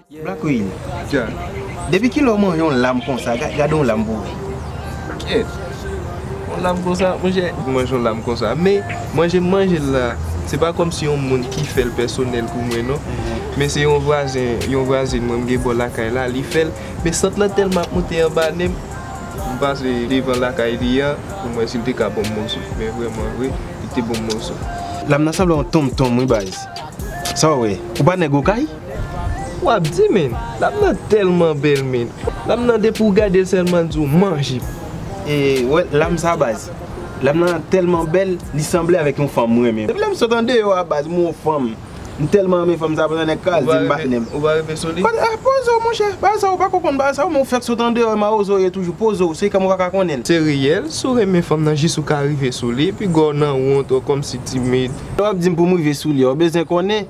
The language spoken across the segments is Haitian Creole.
Black Real depi kilè w man yon lam konsa gade yon lam pou ou. Kyèt yon lam konsa monchè m manje yon lam konsa men manje m manje l la se pa kòm si yon moun ki fè l pèsonèl pou mwen non men se yon vwazen yon vwazin mwen m gen bò lakay la li fè l men sant lan tèlman ap moute anba nen m m pase devan lakay li a pou m wè si l te ka ban m moso men vrèman vre li te ban m moso. Lam nan sanble yon tonmtonm wi baz sa w wè ou pa nèg okay. Wap di men, dam nan telman bel men. Dam nan depi ou gadel selman li di w manje. E wè lam sa baz. Dam nan telman bel li sanble avek yon fanm m renmen. Depi lem sot andeyo a baz m wè yon fanm m telman renmen fanm sa pandan neg ka al di m patnem. Ou pa rive sou li? Poze w monche, baz sa ou pako konn baz sa ou men ou fek sot andeyo e mawozo ou ye toujou. Poze w, se kèm ou paka konnen. Se reyel, si w renmen fanm nan jis ou ka rive sou li, piga w nan wont ou komsi timid. Lè wap di m pou m rive sou li a ou bezwen konnen.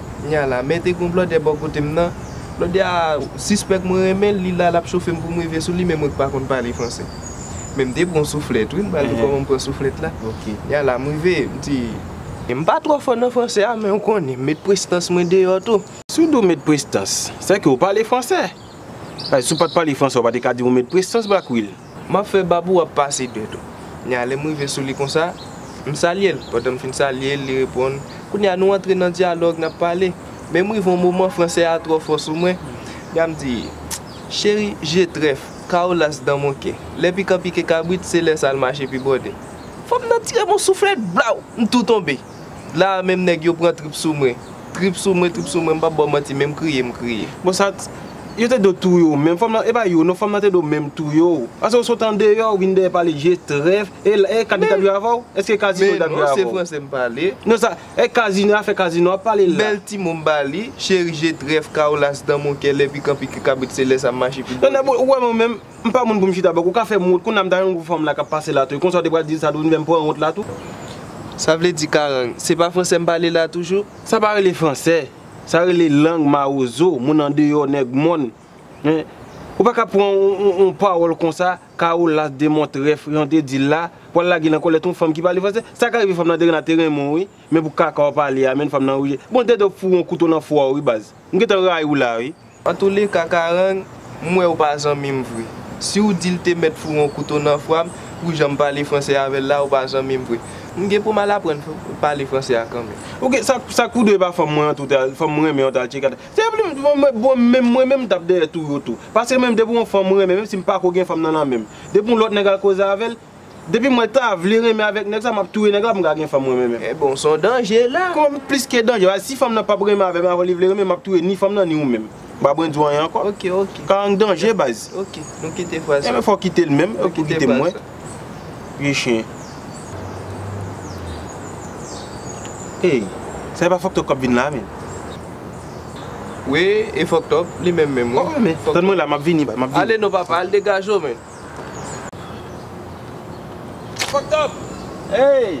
Knya la mete gon blòdè bò kotem nan blòdè a sispèk mwen renmenl li la lap chofem poum rive souli men mwen k pa konn pale fransè men mte pran souflèt wi m pral di kòman m pran souflèt la knya la m rive m di m pa twò fò nan fransè a men ou konnen m met prestans mwen deyò tou. Si w di w met prestans, sèke w pale fransè. Paske si w pat pale fransè w pa te ka di w met prestans black will. Map fè bab ou ap pase dwèt ou. Kounya lèm rive sou li konsa, m salyel, pandan m fin salyel li reponn, kounya nou antre nan dyalòg nap pale, men m rive yon moman fransè a twò fò sou mwen, kounya m di, cheri, je trèf, kao las dan mon kè, lè pikan pike kabrit se lè sal mache pi bòde. Fanm nan tirem yon souflèt, blaw! M tou tonbe. La a menm nèg yo pran trip sou mwen. Trip sou mwen, trip sou mwen, m pap ba w manti menm kriye m kriye. Bon sa t, yo te do touye w menm, fanm nan, e pa yo non, fanm nan te do menm touye w. Pase w sot andeyò, w vin dèyè pale je trèf, e la, e Kadi t ap jwe avè w? Eske Kazino t ap jwe avè w? Men non, se fransè m pale. Non sa, e Kazino, afè Kazino w ap pale la? Bèl ti mo m ba li, cheri je trèf, Kaolas dans mon cœur, lè pikan pike kabrit se lè sa m mache pi bò. Nan nan, bon, ou wè mwen menm, M pa moun pou m chita bòk, ou ka fè m wont, kounya m ta renmen pou fanm la k ap pase la tou e konsa w te pral di l sa tou vin fè m pran wont la tou. Sa vle di karang, se pa fransè m pale la toujou? Sa pa rele fransè, sa rele lang mawozo, moun andeyò, nèg mòn. Men, ou pa ka pran yon pawòl konsa, Karolas de Montrèf, jan w te di l la, pou w al lage l nan kòlèt yon fanm ki pale fransè. Sa ka rive fanm nan te renmen a te renmen w wi, men pou kaka w pale a menn fanm nan rejte. Bon, dèdè w foure yon kouto nan fwa w wi baz. M gentan rayi w la wi. Antoulèka Karang, m wè ou pa zanmi m vre. Si w di l te mèt foure yon kouto nan fwa m pou jan m pale franse avè l la, ou pa zanmi m vre. M gen pou m al aprann pale franse a kanmenm. Ok, sa k pou dwe pa fanm mwen an tou ta, fanm m renmen an ta al tcheke ata. Se pou m, bon menm mwen menm m t ap dèyè touye w tou. Paske menm depi yon fanm m renmen, menm si m pako gen fanm nan nan men m, depi yon lòt nèg al koze avè l, Depi mwen ta vle renmen avèk nèg sa map touye nèg la poum ka gen fanm mwen menm. E bon son danje la. Kòman m plis ke danje la, si fanm nan pap renmen avèm avan li vle renmenm map touye ni fanm nan ni ou menm. M pa bwen di w anyen ankò. Ok ok. Karang danje baz. Ok nou kite fraz sa. Enben fòw kite l menm, ou tou kite mwen. Vye chyen. Ey, sa e pa fòk tòp kap vin la menm. Wi e fòk tòp, li menm menm wi. Tann mwen la map vini baz, map vini. Ale non papa, al degaje w menn. Fucked up! Hey!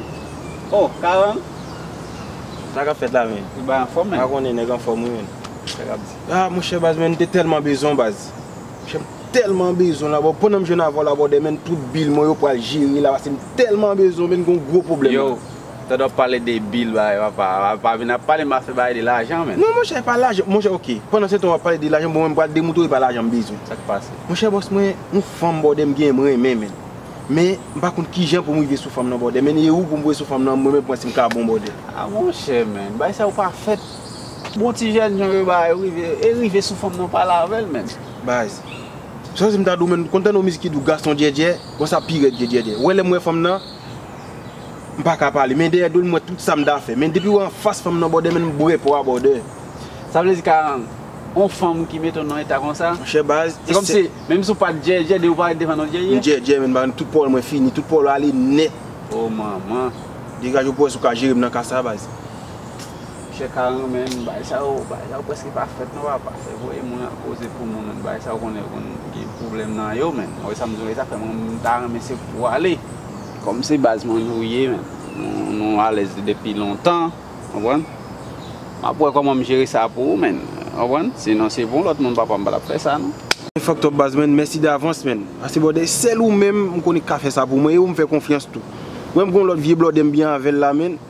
Oh, Karan? Sa kap fèt la menn? Ou bay anfòm menn? Ou pa konnen nèg anfòm wi menn. Sa kap di? Ah monchè baz menn m te tèlman bezwen w baz. Monchè m tèlman bezwen w la bò. Pandan m jwenn avè w la bòdè menn tout bil mwen yo pral jere la pase m tèlman bezwen w menn gen yon gwo pwoblèm la. Tande wap pale de bill bay papa a pa vin ap pale m afè bay de lajan menn. Non monchè e pa lajan monchè ok pandan se tan wap pale de lajan bon mwen pral demoutrew e pa lajan m bezwen. Sak pase? Monchè bòs mwen yon fanm bòdè m genyen m renmen menn men m pa konn kijan pou m rive sou fanm nan bòdè menn e ou pou m rive sou fanm nan mwen menm pou wè si m ka bon bòdè. Ah monchè menn bay sa ou pa fèt bon ti jèn jan yo bay ou rive e rive sou fanm nan ou pale avèl menn. Baz. Sa w di m ta di w menn konn tande yon mizik ki di w gason djèdjè bon sa pi rèd ke djèdjè ou wè lè m wè fanm nan. M paka pale men dèyè do l m wè tout sa m ta fè men depi w anfas fanm nan bòdè menm bwè pou w a bòdè. Sa vle di Karan, on fanm ki mete w nan eta konsa? Monchè baz, e se. Se kòm si, menm si w pa t djèdjè, depi w parèt devan l ou djèdjè? M djèdjè men m pa renm tout pawòl mwen fini, tout pawòl yo ale nèt. O manman. Degaje w bòz ou ka jere m nan ka sa baz. Chè karan men bagay sa yo bagay sa yo preske pa fèt non papa fè voye moun al koze pou moun men bagay sa yo konnen konn gen pwoblèm nan yo men wè sa m di w la sa fè m ta renmen se pou w ale kòm se baz mwen nou ye men nou alèz depi lontan w konprann m ap wè kòman m jere sa pou ou men w konprann si non se pou yon lòt moun papa m pa t ap fè sa non. Ou fòk twòp baz men mèsi davans men paske bwòdè sèl ou menm m konnen k ka fè sa pou mwen e ou m fè konfyans tou wè m gen yon lòt vye blòdè m byen avè l la men.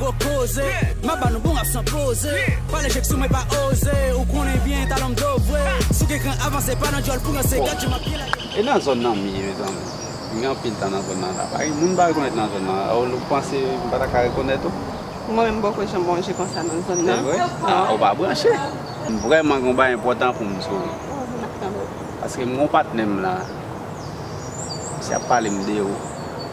gwo koze Map ba nou bon rap san poze Pale jek sou mwen pa oze Ou konnen byen talon m do vwe Sou gen kran avanse pa nan dyòl pou ranse Gad jan map byen lage E nan zòn nan m ye mezanmi? M gen anpil tan nan zòn nan la pa gen moun m pa rekonèt nan zòn nan Raoul ou panse m pa ta ka rekonèt ou? Mwen menm m poko janm manje konsa nan zòn nan. Se vre? Ou pa branche? M vrèman gen yon bagay enpòtan pou m di w Paske m gen yon patnè m la Misye ap pale m de ou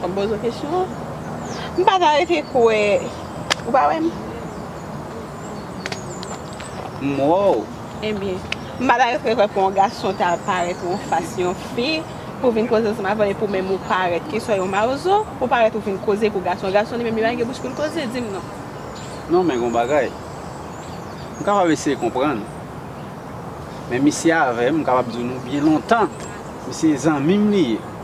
Fòm poze w kesyon an. M pa ka rete kwè. Ou pa wè m. M wè w. Ebyen. M pa ta rete kwè pou yon gason ta parèt yon fas yon fi pou vin koze ansanm avè l epi ou menm ou parèt keswa yon mawozo. Ou parèt ou vin koze pou gason. Gason li menm li pa gen bouch pou l koze. Di m non. Non men gen yon bagay. M kapab eseye konprann. Men misye avè m m kapab di w nou byen lontan. Misye zanmi m li ye.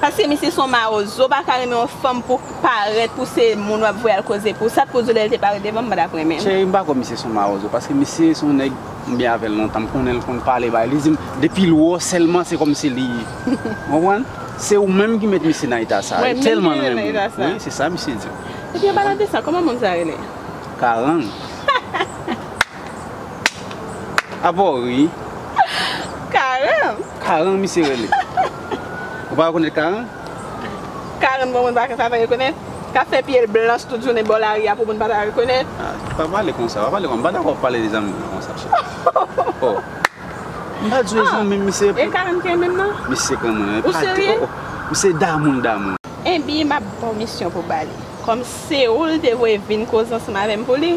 Paske misye son mawozo paka renmen yon fanm pou parèt pou se moun wap voye al koze pou sa t koz ou lèl te parèt devanm m patap renmenl. Cheri m pa kwè misye son mawozo paske misye son nèg m byen avèl lontan m konnen l konn pale bay li di m depi l wè w sèlman se kòmsi li konprann se ou menm ki met misye nan eta sa li tèlman renmen w wi se sa misye di m. Ebyen an palan de sa kòman moun sa rele. Karang. Apa w ri? Karan. Karan misye rele. Ou pa rekonèt Karan? Karan bon moun pa ka pa rekonèt. K ap fè pye l blanch tout jounen bò lari a pou moun pa ta rekonèt. Pa pale konsa. Pa pale konsa. M pa dakò w pale de zanmi w konsa cheri. O! M pa di w e zanmi m misye. E Karan ki renmen m nan? Misye k renmen w. Ou serye? O! Misye damou l damou l. Enben m ap ba w misyon pou w ba li. Kòm se ou l te voye vin koze ansanm avè m pou li.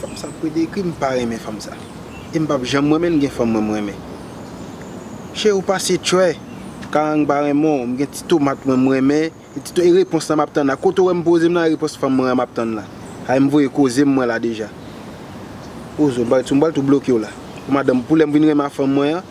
Fanm sa pwede ekri m pa renmen fanm sa e m pap janm renmen l gen fanm mwen m renmen Che ou pase tchwè karang pa renmen w m gen ti tomat mwen m renmen e repons la map tann la kote w wè m poze m la repons fanm mwen an map tann la a m voye koze m mwen la deja Ozo m pral tou bloke w la pou madanm pou lè m vin renmen a fanm mwen an.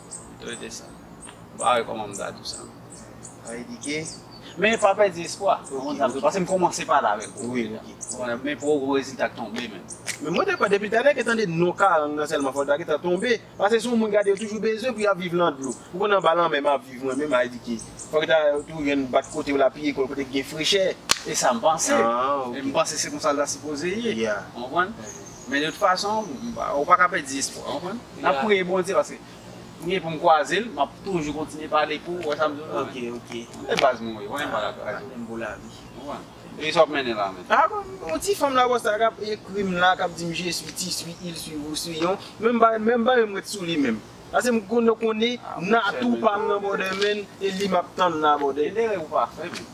M t rete sa. M pa wè kòman m ta di w sa. Sa vle di ke. Men pa pèdi espwa. Ou konprann sa m di w. Pase m kòmanse pale avèk ou deja. Ou konprann? Men pou ou rezilta k tonbe menm. Men mwen te kwè depi talè ke tande non Karang nan sèlman fò l ta gentan tonbe. Pase se yon moun gade yo toujou bezwen pou y ap viv lan dlo. Ou konn anba lanmè m ap viv mwen menm avèk Dike. Fò ke ta tou jwenn bat kote w la piye kò l kote ki gen frechè. E sa m panse. M panse se konsa l ta sipoze ye. Ou konprann? Men de tout fason, ou pa ka pèdi espwa, ou konprann? N ap priye Bondye paske m gen pou m kwaze l, m ap toujou kontinye pale pou ou, wè sa m di w la? Ok, ok. M se baz mwen yo, mwen pa ka kraze. Mwen pou lavi. Ou konprann? E ki sa w ap mennen la menm? Ah bon, yon ti fanm Lagos la k ap ekri m la, k ap di m je suis, ti suis, il suis, vous suis, yon, menm bagay, menm bagay m ret sou li menm. Paske m konnen, konnen, Nathou pa m nan bòdè menn, e li m ap tann nan bòdè. Gen erè ou pa fè menm.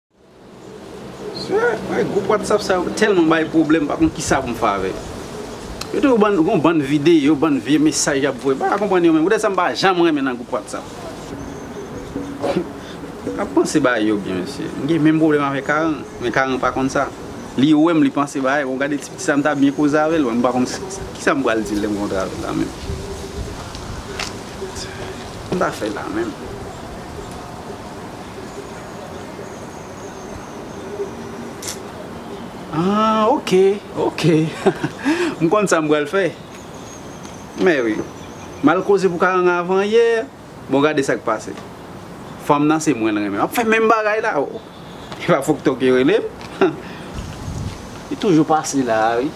Group whatsapp sa yo telman bay pwoblem pa konn kisa poum fè avè yo. Yo toujou ban yon bann videyo, bann vye mesaj yap voye. M paka konprann yo menm. Poutèt sa m pa janm renmen nan group whatsapp. Map panse bagay yo byen mesye. M gen menm pwoblem avè Karan, men Karan pa konn sa. Li wèm li panse bagay, bon gade ti piti sa m ta byen koze avèl m pa konn kisa m pral dil lèm kontre avèl la menm. Kisa m ta fè la menm. Aah ok ok m konn sa m pral fè mèwi m al koze pou karanga avan yè bon gade sak pase fanm nan se mwen l renmen map fè menm bagay la oh epa fokto ki rele m li toujou pase la wi.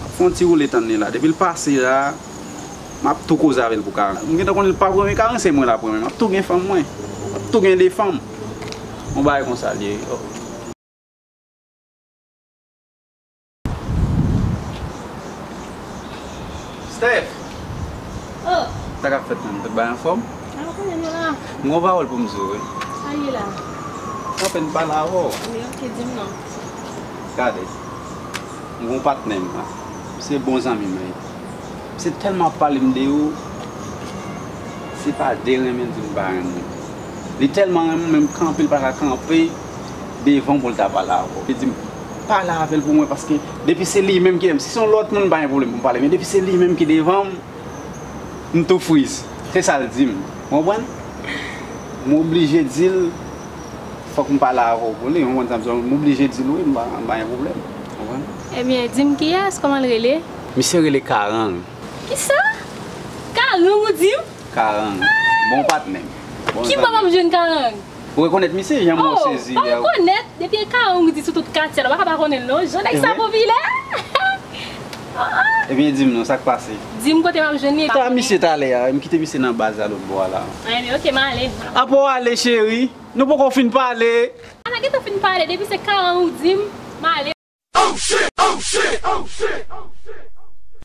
Map fè yon ti woule tann li la. Depi l pase la, map tou koze avè l pou karen. M gentan konnen l pap renmen karen, se mwen lap renmen. Map tou gen fanm mwen. Map tou gen 2 fanm. Yon bagay konsa l ye wi. Steph! O! Sa kap fèt menm? Tout bagay anfòm? Sa w konnen nou la. M gen yon pawòl pou m di w wi. Sa l ye la? M apèn pale avè w. Bon ok, di m non. Gade, m gon patnè m nan, se bon zanmi mwen yo. Se tèlman ap pale m de yo, se pa de renmen di m pa renmen m. Li tèlman renmen m menm kanpe l pa ka kanpe devan w pou l ta pale avè w. Li di m, pale avè l pou mwen paske depi se li menm ki renmen m. Si se yon lòt moun m pa gen pwoblèm pou m pale men depi se li menm ki devan m, m tou friz. Se sa l di m, w konprann? M oblije di l. Fòk m pale avè w pou li, ou konprann sa m di w. M oblije di l wi, m pa gen pwoblèm, ou konprann. Ebyen, di m kiyès, kòman l rele? Misye rele Karang. Kisa? Karang ou di m? Karang. Bon patnè m. Bon zanmi m. Ki bò pa m jwenn Karang? Ou rekonèt misye jan mwen sezi yè? O! Pa rekonèt? Depi e Karang ou di sou tout katye a, nou pa ka pa konnen l non. Jan nèg sa popilè! Ebyen dim non sak pase. Dim kote map jwenn li. Sa misye t ale a. M kite misye nan baz la lotbo a la. Anyn ok m ale. Apa w ale cheri? Nou poko fin pale. A na gentan fin pale depi se karan ou dim m ale. Oh shit oh shit oh shit oh shit oh shit.